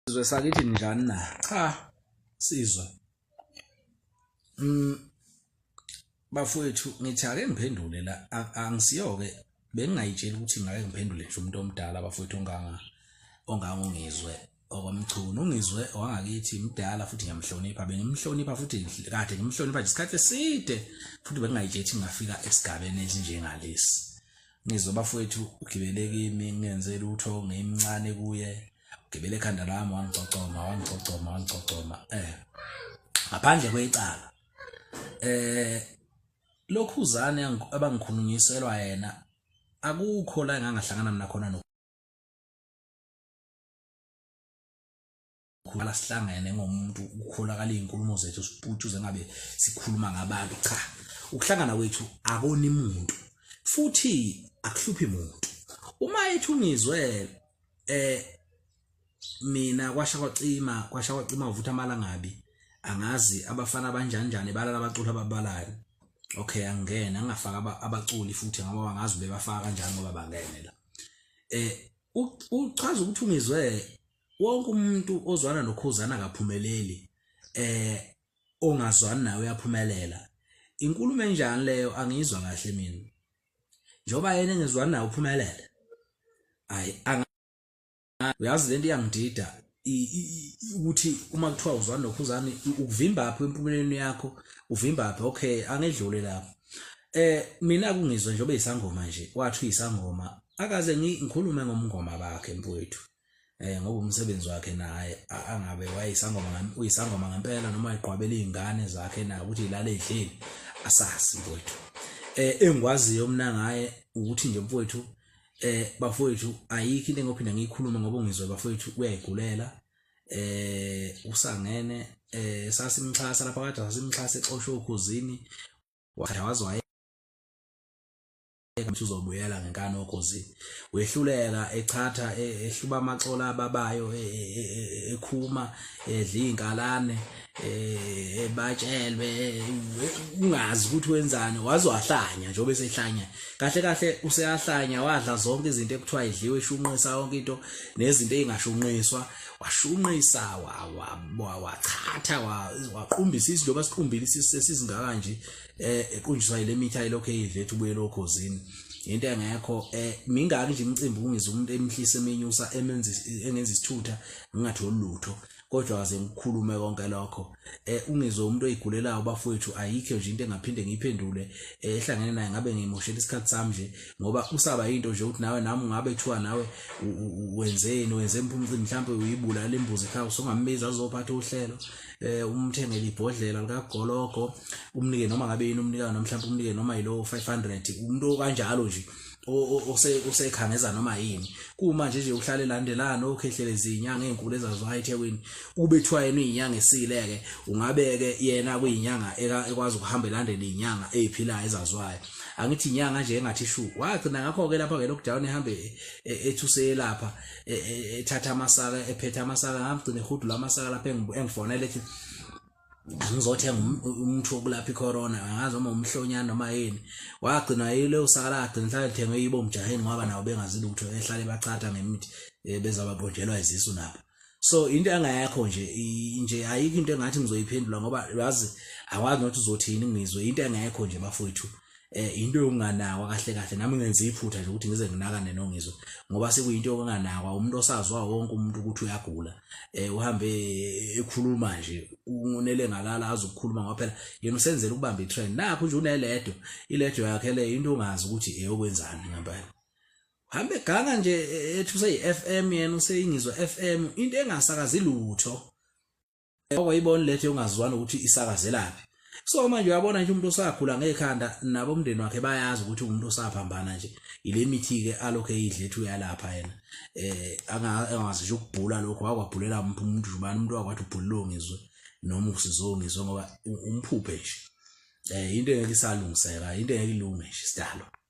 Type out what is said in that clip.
sizwe sakithi njani na cha sizwe mm bafowethu ngithi ake ngiphendule la angisiyoke bengingayitsheli ukuthi ngake ngiphendule nje umuntu omdala bafowethu onganga ongangongizwe okwamchunu ungizwe wangakithi mdala futhi ngiyamhlonipha bengimhlonipha futhi kade ngimhlonipha nje isikhathi eside futhi bengingayitsheli ukuthi ngingafika esigabeni esinjengalesi ngizwe bafowethu ugibele kimi ngenze lutho ngimncane kuye ugibele ekhanda lami wangigcogcoma wangigcogcoma wangigcogcoma eh ngaphandle kwecala eh lokhu uzane abangikhulunyiselwa yena akukho la engangahlangana mina khona khulala sihlangene ngomuntu ukholakala izinkulumo zethu siputshuze ngabe sikhuluma ngabantu cha ukuhlangana kwethu akoni muntu futhi akuhluphi muntu uma ethi ungizwe eh mina kwasha kwacima kwasha kwacima uvutha amalangabi angazi abafana abanjanjani balala abaculi ababalani okay angena angafaka abaculi futhi ngoba bangazi bebafaka kanjani ngoba bangene la eh uchaza ukuthi ungizwe wonke umuntu ozwana nokhuzana akaphumeleli eh ongazwani naye uyaphumelela inkulumo enjani leyo angiyizwa kahle mina njengoba yena engezwani naye uphumelele ayi uyazi lento iyangidida ukuthi uma kuthiwa uzwani nokhuzani ukuvimba phi empumelelweni yakho uvimba phi okay angedlule lapho eh mina kungizwe njengoba isangoma nje wathi uyisangoma akaze ngikhulume ngomngoma bakhe mfowethu eh ngoba umsebenzi wakhe naye angabe wayisangoma uyisangoma ngempela noma iqhwabela izingane zakhe naye ukuthi ilale idlile asazi mfowethu eh engikwaziyo mina ngaye ukuthi nje mfowethu eh bafowethu ayikho into engophinda ngiyikhulume ngoba ungizwe bafowethu uyayigulela eh usangene eh sasimxhasa lapha kade sasimxhasa exoshwe ukhuzini wakhe wazi waye ukuthi uzobuyela ngenkani okhozini wehluleka echatha e, ehluba amaxola ababayo e, e, ekhuma edla izinkalane ebatshelwe ungazi ukuthi wenzani waze wahlanya njengoba esehlanya kahle kahle useyahlanya wadla zonke izinto ekuthiwa idliwe eshunqisa yonke into nezinto ezingashunqiswa washunqisa wachatha waqumbisa izinto basiqumbile isisizingaka nje eh equnjiswa ile mitha elokho eyidlethu buyela okhozini into engekho eh mingaki nje imicimbi kungiza umuntu emhlisa emenyusa emenza engenza isithutha ngingatholi lutho kodwa kaze ngikhulume konke lokho eh ungizwe umuntu oyigulelayo bafowethu ayikho nje into engaphinde ngiyiphendule eh, ehlangene naye ngabe ngimoshela isikhathi sami nje ngoba usaba into nje ukuthi nawe nami ngabe kuthiwa nawe wenzeni wenze impumcimbi mhlawumbe uyibulala imbuzi ekhaya usongambiza azophatha uhlelo eh umthengele ibhodlela likagologo umnike noma ngabe yini umnika noma mhlawumbe umnike noma yilowo 500 umuntu kanjalo nje usekhangeza noma yini kuma nje nje uhlale landelana okhehlele izinyanga ezinkulu ezazwa eThekwini ubethwa yena izinyanga esileke ungabeke yena kuyinyanga ekwazi ukuhamba elandela izinyanga eziphilayo ezazwayo angithi inyanga nje engathi shu wagcina ngakho ke lapha ke lockdown ehambe e, ethuse lapha e, e, ethatha amasaka ephethe amasaka ngagcina ehudula amasaka lapho engifonela ethi angizothenga um, umuthi wokulapha icorona angazi uma umhlonyana noma yini wagcina yile usakala agcina hlale lithengwe yibo mjaheni ngoba nabo bengazi lutho ehlale bachatha ngemithi eh, bezababhojelwa izisu nabo so into engayakho nje nje ayikho into engathi ngizoyiphendula ngoba yazi akwazi nokuthi uzothini ngizwe into engekho nje bafowethu eh into yokunganakwa kahle kahle nami ngenza iphutha nje ukuthi ngize nginakane nongizwe ngoba sekuyinto yokunganakwa umuntu osazwa wonke umuntu ukuthi uyagula eh uhambe ekhuluma nje unele ngalala azokukhuluma ngoba phela yena usenzela ukubamba itrend nakho nje uneledo iledo yakhe le into ongazi ukuthi eyokwenzani ngempela hambe ganga nje e, ethi useyi-FM yena useyingizwa FM into engasakazi lutho okwayibona lethe yongazwani ukuthi isakazelaphi so manje uyabona nje umuntu osakhula ngekhanda nabo umndeni wakhe bayazi ukuthi umuntu osaphambana nje ile mithi ke alokho eyidle ethi uyalapha yena eh angazi nje ukubhula lokho wakwabhulela umuntu umuntu ubani umuntu wakwathi ubhulilo ngizwe noma usizongizwe ngoba umphuphe nje eh into engeke isalungiseka into engeke ilunge nje sidalo